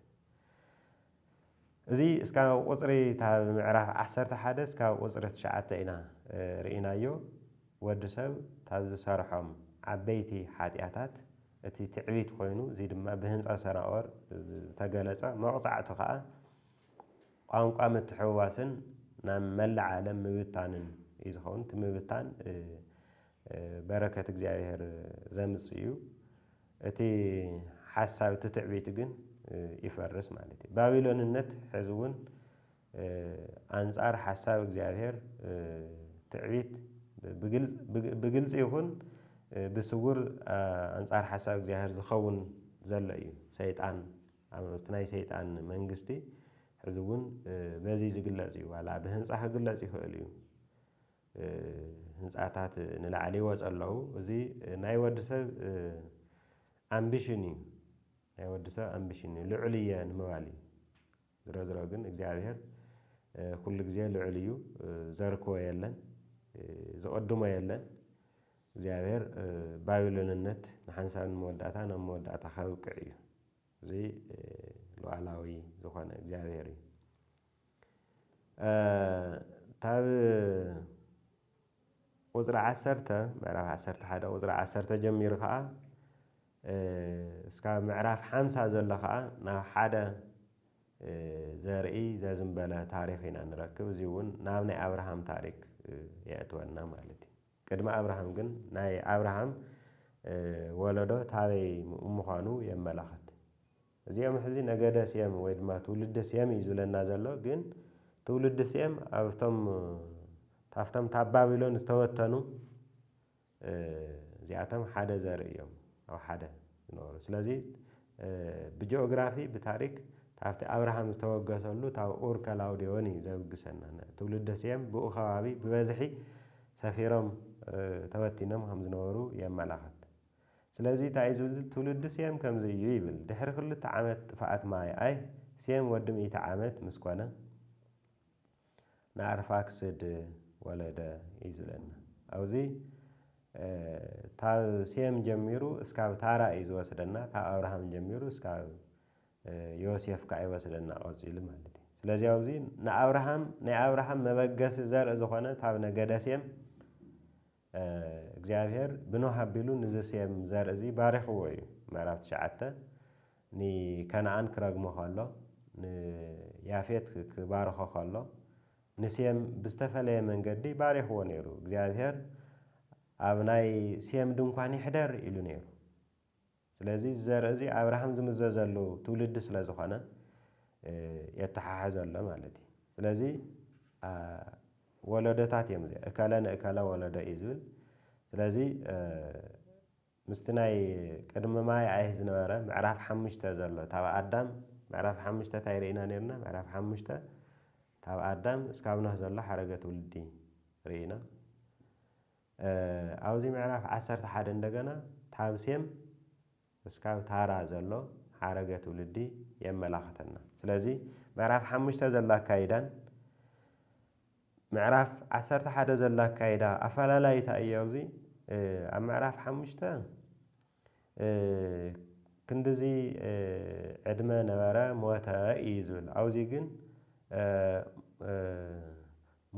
እዚ እስካብ ቁጽሪ እታ ምዕራፍ ዓሰርተ ሓደ እስካብ ቁጽሪ ትሽዓተ ኢና ርኢናዮ ወዲ ሰብ ካብ ዝሰርሖም ዓበይቲ ሓጥያታት እቲ ትዕቢት ኮይኑ እዚ ድማ ብህንጻ ሰናኦር ዝተገለጸ መቕጻዕቱ ከኣ ቋንቋ ምትሕውዋስን ናብ መላእ ዓለም ምብታንን እዩ ዝኸውን እቲ ምብታን በረከት እግዚኣብሔር ዘምጽእ እዩ እቲ ሓሳብ እቲ ትዕቢት ግን ይፈርስ ማለት እዩ ባቢሎንነት ሕዚ እውን ኣንጻር ሓሳብ እግዚኣብሔር ትዕቢት ብግልፂ ይኹን ብስውር ኣንጻር ሓሳብ እግዚኣብሔር ዝኸውን ዘሎ እዩ ሰይጣን ኣብቲ ናይ ሰይጣን መንግስቲ ሕዚ እውን በዚ ዝግለጽ እዩ ዋላ ብህንፃ ክግለጽ ይኽእል እዩ ህንጻታት ንላዕሊ ይወጹ ኣለዉ። እዚ ናይ ወድሰብ ኣምቢሽን እዩ። ናይ ወድሰብ ኣምቢሽን እዩ። ልዑል እየ ንምባል እዩ። ዝሮዝሮ ግን እግዚኣብሔር ኩሉ ግዜ ልዑል እዩ። ዘርክቦ የለን። ዝቕድሞ የለን። እግዚኣብሔር ባቢሎንነት ንሓንሳብን ንመወዳእታን ኣብ መወዳእታ ከብቅዕ እዩ። እዚ ሉዓላዊ ዝኾነ እግዚኣብሔር እዩ። እታብ ቁፅሪ ዓሰርተ ምዕራፍ ዓሰርተ ሓደ ቁፅሪ ዓሰርተ ጀሚሩ ከዓ እስካብ ምዕራፍ ሓምሳ ዘሎ ከዓ ናብ ሓደ ዘርኢ ዘዝምበለ ታሪክ ኢና ንረክብ እዚ እውን ናብ ናይ ኣብርሃም ታሪክ የእትወና ማለት እዩ ቅድሚ ኣብርሃም ግን ናይ ኣብርሃም ወለዶ ታበይ ምዃኑ የመላኽት እዚኦም ሕዚ ነገደ ሴም ወይ ድማ ትውልዲ ሴም እዩ ዝብለና ዘሎ ግን ትውልዲ ሴም ኣብቶም ታፍቶም ታብ ባቢሎን ዝተበተኑ እዚኣቶም ሓደ ዘርኢ እዮም ኣብ ሓደ ዝነበሩ ስለዚ ብጂኦግራፊ ብታሪክ ታብቲ ኣብርሃም ዝተወገሰሉ ታብ ኡር ከላውዴዎን እዩ ዘብግሰና ትውልዲ ሴም ብኡ ከባቢ ብበዝሒ ሰፊሮም ተበቲኖም ከም ዝነበሩ የመላኽት። ስለዚ እንታይ እዩ ዝብል ትውልዲ ሴም ከምዚ እዩ ይብል፣ ድሕሪ ክልተ ዓመት ጥፍኣት ማይኣይ፣ ሴም ወዲ ሚእቲ ዓመት ምስ ኰነ፣ ንኣርፋክስድ ወለደ እዩ ዝብለና። ኣብዚ ካብ ሴም ጀሚሩ እስካብ ታራ እዩ ዝወስደና፣ ካብ ኣብርሃም ጀሚሩ እስካብ ዮሴፍ ከኣ ይወስደና ቀጺሉ ማለት እዩ። ስለዚ ኣብዚ ንኣብርሃም ናይ ኣብርሃም መበገሲ ዘርኢ ዝዀነ ካብ ነገደ ሴም እግዚኣብሄር ብኖህ ኣቢሉ ንዚ ሴም ዘርኢ እዚ ባሪኽዎ እዩ። ምዕራፍ ትሽዓተ፣ ንከነኣን ክረግሞ ከሎ፣ ንያፌት ክባርኾ ከሎ፣ ንሴም ብዝተፈለየ መንገዲ ባሪኽዎ ነይሩ። እግዚኣብሄር ኣብ ናይ ሴም ድንኳን ይሕደር ኢሉ ነይሩ። ስለዚ እዚ ዘርኢ እዚ ኣብርሃም ዝምዘዘሉ ትውልዲ ስለ ዝኾነ የተሓሕዘሎ ማለት እዩ። ስለዚ ወለዶታት እዮም እዚ እከለ ንእከለ ወለዶ እዩ ዝብል ስለዚ ምስቲ ናይ ቅድሚ ማይ ኣይህ ዝነበረ ምዕራፍ ሓሙሽተ ዘሎ ታብ ኣዳም ምዕራፍ ሓሙሽተ እንታይ ርኢና ነርና ምዕራፍ ሓሙሽተ ካብ ኣዳም እስካብ ኖህ ዘሎ ሓረገ ትውልዲ ርኢና ኣብዚ ምዕራፍ ዓሰርተ ሓደ እንደገና ታብ ሴም እስካብ ታራ ዘሎ ሓረገ ትውልዲ የመላኸተና። ስለዚ ምዕራፍ ሓሙሽተ ዘሎ ኣካይዳን ምዕራፍ ዓሰርተ ሓደ ዘሎ ኣካይዳ ኣፈላላይታ እዩ ኣብዚ ኣብ ምዕራፍ ሓሙሽተ ክንድዚ ዕድመ ነበረ ሞተ እዩ ዝብል ኣብዙይ ግን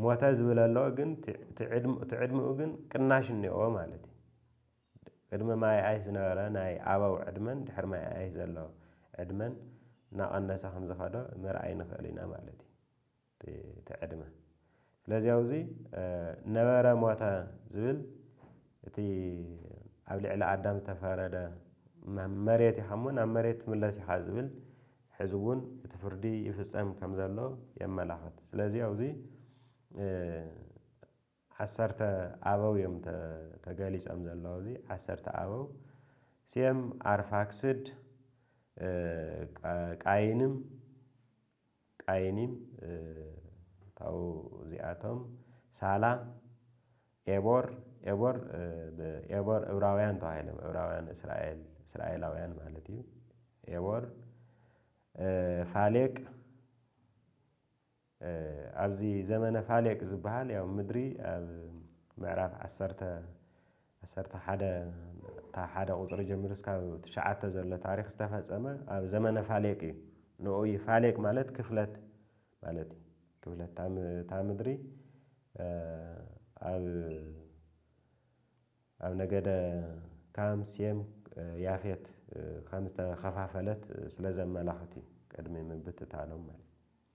ሞተ ዝብል ኣሎ ግን እቲ ዕድምኡ ግን ቅናሽ እኒኦ ማለት እዩ። ቅድሚ ማይ ኣይስ ዝነበረ ናይ ኣበው ዕድመን ድሕሪ ማይ ኣይስ ዘሎ ዕድመን እናቐነሰ ከምዝኸደ ምርኣይ ንኽእል ኢና ማለት እዩ። እቲ ዕድመ ስለዚ ኣብዚ ነበረ ሞተ ዝብል እቲ ኣብ ልዕሊ ኣዳም ዝተፈረደ መሬት ኢኻ እሞ ናብ መሬት ትምለስ ኢኻ ዝብል ሕዚ እውን እቲ ፍርዲ ይፍፀም ከም ዘሎ የመላኽት። ስለዚ ኣብዚ ዓሰርተ ኣበው እዮም ተገሊፆም ዘለዉ እዚ ዓሰርተ ኣበው ሴም፣ ኣርፋክስድ፣ ቃይንም ቃይኒም ካብኡ እዚኣቶም ሳላ ኤቦር ኤቦር ኤቦር እብራውያን ተባሂሎም እብራውያን እስራኤል እስራኤላውያን ማለት እዩ ኤቦር ፋሌቅ ኣብዚ ዘመነ ፋሌቅ ዝበሃል ያው ምድሪ ኣብ ምዕራፍ ዓሰርተ ዓሰርተ ሓደ ካብ ሓደ ቁጽሪ ጀሚሩ እስካብ ትሽዓተ ዘሎ ታሪኽ ዝተፈጸመ ኣብ ዘመነ ፋሌቅ እዩ። ንኡ እዩ ፋሌቅ ማለት ክፍለት ማለት እዩ። ክፍለት እታ እታ ምድሪ ኣብ ኣብ ነገደ ካም፣ ሴም፣ ያፌት ከም ዝተኸፋፈለት ስለ ዘመላኽት እዩ ቅድሚ ምብትታኖም ማለት እዩ።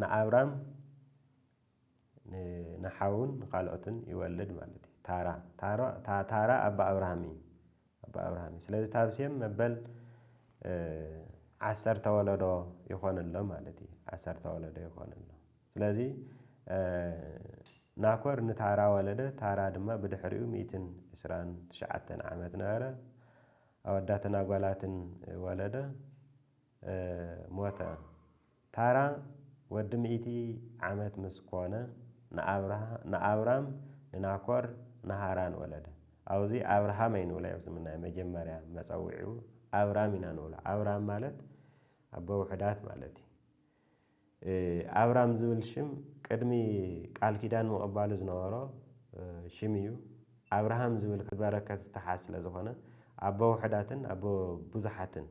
ንኣብራም ንሓዉን ንካልኦትን ይወልድ ማለት እዩ ታራ ታራ ታራ ኣቦ ኣብርሃም እዩ ኣቦ ኣብርሃም እዩ ስለዚ ታብ ሴም መበል ዓሰርተ ወለዶ ይኾን ኣሎ ማለት እዩ ዓሰርተ ወለዶ ይኾን ኣሎ ስለዚ ናኮር ንታራ ወለደ ታራ ድማ ብድሕሪኡ ሚእትን ዕስራን ትሽዓተን ዓመት ነበረ ኣወዳትን ኣጓላትን ወለደ። ሞተ። ታራ ወዲ ሚእቲ ዓመት ምስ ኮነ፣ ንኣብራም፣ ንናኮር፣ ንሃራን ወለደ። ኣውዚ ኣብርሃም ኣይንብሎ ኣይብዝም ናይ መጀመርያ መጸውዒኡ ኣብራም ኢና ንብሎ። ኣብራም ማለት ኣቦ ውሑዳት ማለት እዩ። ኣብራም ዝብል ሽም ቅድሚ ቃል ኪዳን ምቕባሉ ዝነበሮ ሽም እዩ። ኣብርሃም ዝብል ካብ በረከት ዝተሓዝ ስለ ዝኾነ ኣቦ ውሑዳትን ኣቦ ብዙሓትን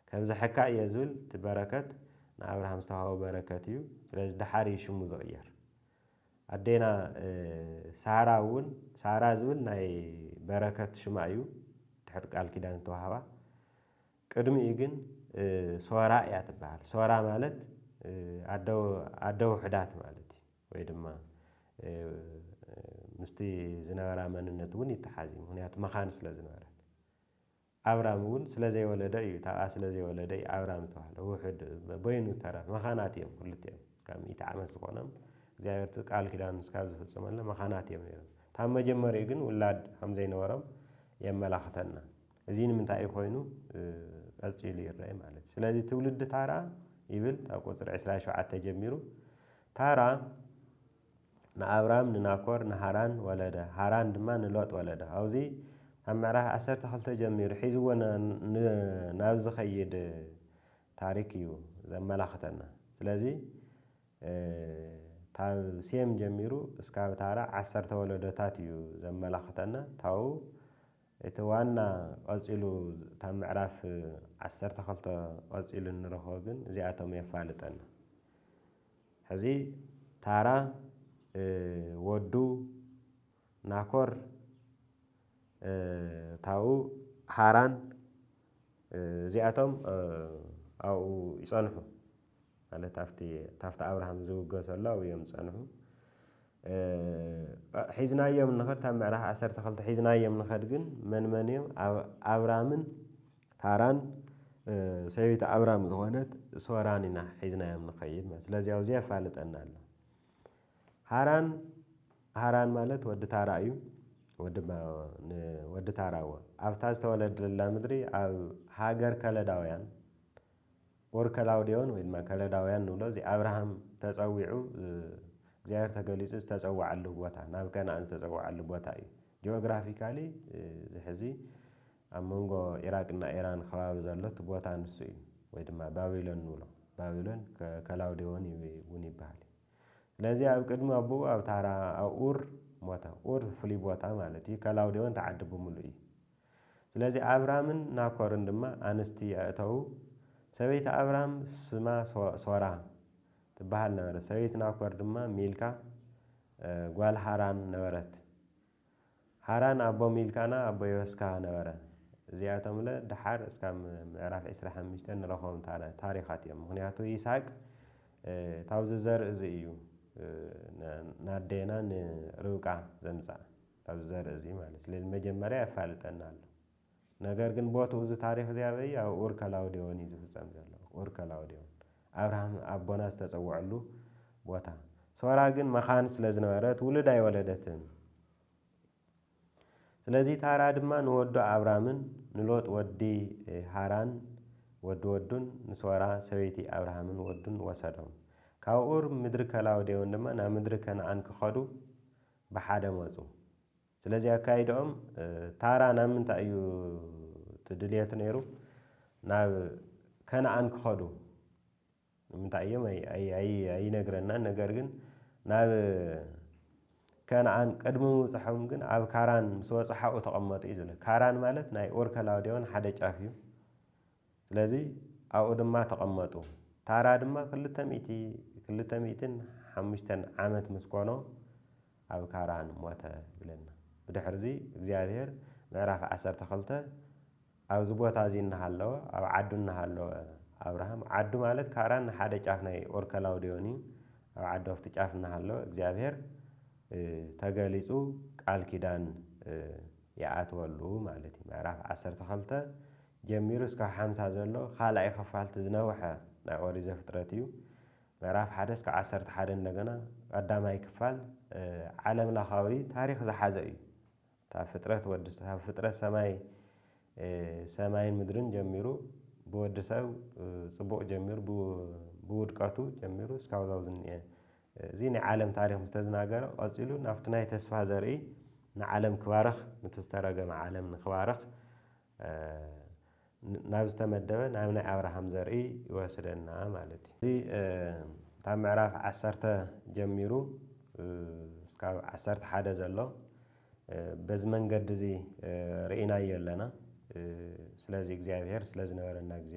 ከብዘሐካ እየ ዝብል እቲ በረከት ንኣብርሃም ዝተዋህቦ በረከት እዩ ስለዚ ደሓር እዩ ሽሙ ዝቕየር። ኣዴና ሳራ እውን ሳራ ዝብል ናይ በረከት ሽማ እዩ ድሕሪ ቃል ኪዳን ዝተዋህባ። ቅድሚኡ ግን ሶራ እያ ትበሃል። ሶራ ማለት ኣደ ኣደ ውሑዳት ማለት እዩ። ወይ ድማ ምስቲ ዝነበራ መንነት እውን ይተሓዝ እዩ። ምኽንያቱ መኻን ስለ ዝነበረት። ኣብራም እውን ስለ ዘይወለደ እዩ እታ ኣብኣ ስለ ዘይወለደ እዩ ኣብራም ዝተባህለ። ውሑድ በይኑ ዝተረፈ መኻናት እዮም ክልቲኦም። ካብ ሚእቲ ዓመት ዝኾኖም እግዚኣብሔር እቲ ቃል ኪዳኑ እስካብ ዝፍፅመሎም መኻናት እዮም ነይሮም። እታ ኣብ መጀመሪኡ ግን ውላድ ከም ዘይነበሮም የመላኽተና። እዚ ንምንታይ እዩ ኮይኑ ቀጺሉ ይረኤ ማለት እዩ። ስለዚ ትውልዲ ታራ ይብል ካብ ቁጽሪ ዕስራን ሸውዓተን ጀሚሩ ታራ ንኣብራም ንናኮር ንሃራን ወለደ ሃራን ድማ ንሎጥ ወለደ ኣብዚ ካብ ምዕራፍ ዓሰርተ ክልተ ጀሚሩ ሒዝዎ ናብ ዝኸይድ ታሪክ እዩ ዘመላኽተና ስለዚ ካብ ሴም ጀሚሩ እስካብ ታራ ዓሰርተ ወለዶታት እዩ ዘመላኽተና ታው እቲ ዋና ቐጺሉ እታ ምዕራፍ ዓሰርተ ክልተ ቐጺሉ እንረኽቦ ግን እዚኣቶም የፋልጠና። ሕዚ ታራ ወዱ ናኮር ታኡ ሃራን እዚኣቶም ኣብኡ ይጸንሑ። ማለት ኣብቲ ታፍቲ ኣብርሃም ዝውገሰሉ ኣብኡ እዮም ዝጸንሑ። ሒዝናዮም ንኸድ ኣብ ምዕራፍ ዓሰርተ ክልተ ሒዝናዮም ንኸድ ግን መን መን እዮም ኣብራምን ታራን ሰበይቲ ኣብራም ዝኾነት ሶራን ኢና ሒዝናዮም ንኸይድ ማለት ስለዚ ኣብዚ የፋልጠና ኣሎ ሃራን ሃራን ማለት ወዲ ታራ እዩ ወዲ ታራ እዎ ኣብታ ዝተወለደላ ምድሪ ኣብ ሃገር ከለዳውያን or ከላውዴዎን ወይ ድማ ከለዳውያን ንብሎ እዚ ኣብርሃም ተጸዊዑ እግዚኣብሔር ተገሊጹ ዝተጸወዓሉ ቦታ ናብ ከነኣን ዝተጸወዓሉ ቦታ እዩ ጂኦግራፊካሊ እዚ ሕዚ ኣብ መንጎ ኢራቅ እና ኢራን ከባቢ ዘሎ እቲ ቦታ ንሱ እዩ ወይ ድማ ባቢሎን ንብሎ ባቢሎን ከላውዴዎን እውን ይበሃል እዩ ስለዚ ኣብ ቅድሚ ኣቦኡ ኣብ ታራ ኣብ ኡር ሞተ ኡር ፍሉይ ቦታ ማለት እዩ ከላውዴዎን ተዓዲ ብምሉእ እዩ ስለዚ ኣብራምን ናኮርን ድማ ኣንስቲ ኣእተዉ፣ ሰበይቲ ኣብራም ስማ ሶራ ትበሃል ነበረት፣ ሰበይቲ ናኮር ድማ ሚልካ ጓል ሃራን ነበረት፣ ሃራን ኣቦ ሚልካና ኣቦ የወስካ ነበረ። እዚኣቶምለ ደሓር እስካብ ምዕራፍ ዕስራ ሓሙሽተ ንረኽቦም ታሪኻት እዮም፣ ምኽንያቱ ይስሃቅ ታብዚ ዘርኢ እዚ እዩ ንኣዴና ንርብቃ ዘምጽኣ። ኣብዚ ዘርኢ እዚ ማለት ስለዚ መጀመርያ የፋልጠና ኣሎ ነገር ግን ቦትኡ እዚ ታሪኽ እዚ ኣበይ እዩ ኣብ ኡር ከላውዴዎን እዩ ዝፍጸም ዘሎ ኡር ከላውዴዎን ኣብርሃም ኣቦና ዝተጸወዐሉ ቦታ ሶራ ግን መኻን ስለ ዝነበረት ውሉድ ኣይወለደትን ስለዚ ታራ ድማ ንወዱ ኣብራምን ንሎጥ ወዲ ሃራን ወዲ ወዱን ንሶራ ሰበይቲ ኣብርሃምን ወዱን ወሰዶም ካብ ኡር ምድሪ ከላውዴዎን ድማ ናብ ምድሪ ከነኣን ክኸዱ ብሓደ መጹ። ስለዚ ኣካይዳኦም ታራ ናብ ምንታይ እዩ እቲ ድልየቱ ነይሩ? ናብ ከነኣን ክኸዱ ንምንታይ እዮም ኣይነግረናን። ነገር ግን ናብ ከነኣን ቅድሚ ምብጽሖም ግን ኣብ ካራን ምስ በጽሑ ኣብኡ ተቐመጡ እዩ ዝብል። ካራን ማለት ናይ ኡር ከላውዴዎን ሓደ ጫፍ እዩ። ስለዚ ኣብኡ ድማ ተቐመጡ። ታራ ድማ ክልተ ሚእቲ፣ ክልተ ሚእትን ሓሙሽተን፣ ዓመት ምስ ኮኖ ኣብ ካራን ሞተ ይብለና። ብድሕርዚ እግዚኣብሄር ምዕራፍ ዓሰርተ ክልተ ኣብዚ ቦታ እዚ እናሃለወ፣ ኣብ ዓዱ እናሃለወ፣ ኣብርሃም፣ ዓዱ ማለት ካራን ንሓደ ጫፍ ናይ ኡር ከላውዴዎን እዩ፣ ኣብ ዓዱ ኣብቲ ጫፍ እናሃለወ እግዚኣብሄር ተገሊጹ ቃል ኪዳን ይኣትወሉ ማለት እዩ። ምዕራፍ ዓሰርተ ክልተ ጀሚሩ እስካብ ሓምሳ ዘሎ ካልኣይ ኽፋል እቲ ዝነውሐ ናይ ኦሪት ዘፍጥረት እዩ። ምዕራፍ ሓደ እስካብ ዓሰርተ ሓደ እንደገና ቀዳማይ ክፋል ዓለም ለኻዊ ታሪኽ ዝሓዘ እዩ። ካብ ፍጥረት ወዲ ካብ ፍጥረት ሰማይ ሰማይን ምድርን ጀሚሩ ብወዲ ሰብ ጽቡቕ ጀሚሩ ብውድቀቱ ጀሚሩ እስካብ ዛው ዝንኤ እዚ ናይ ዓለም ታሪኽ ምስ ተዝናገረ ቀጺሉ ናብቲ ናይ ተስፋ ዘርኢ ንዓለም ክባርኽ ንቲ ዝተረገመ ዓለም ንክባርኽ ናብ ዝተመደበ ናብ ናይ ኣብርሃም ዘርኢ ይወስደና ማለት እዩ። እዚ ካብ ምዕራፍ ዓሰርተ ጀሚሩ እስካብ ዓሰርተ ሓደ ዘሎ በዚ መንገዲ እዚ ርኢናዮ ኣለና። ስለዚ እግዚኣብሄር ስለ ዝነበረና ግዜ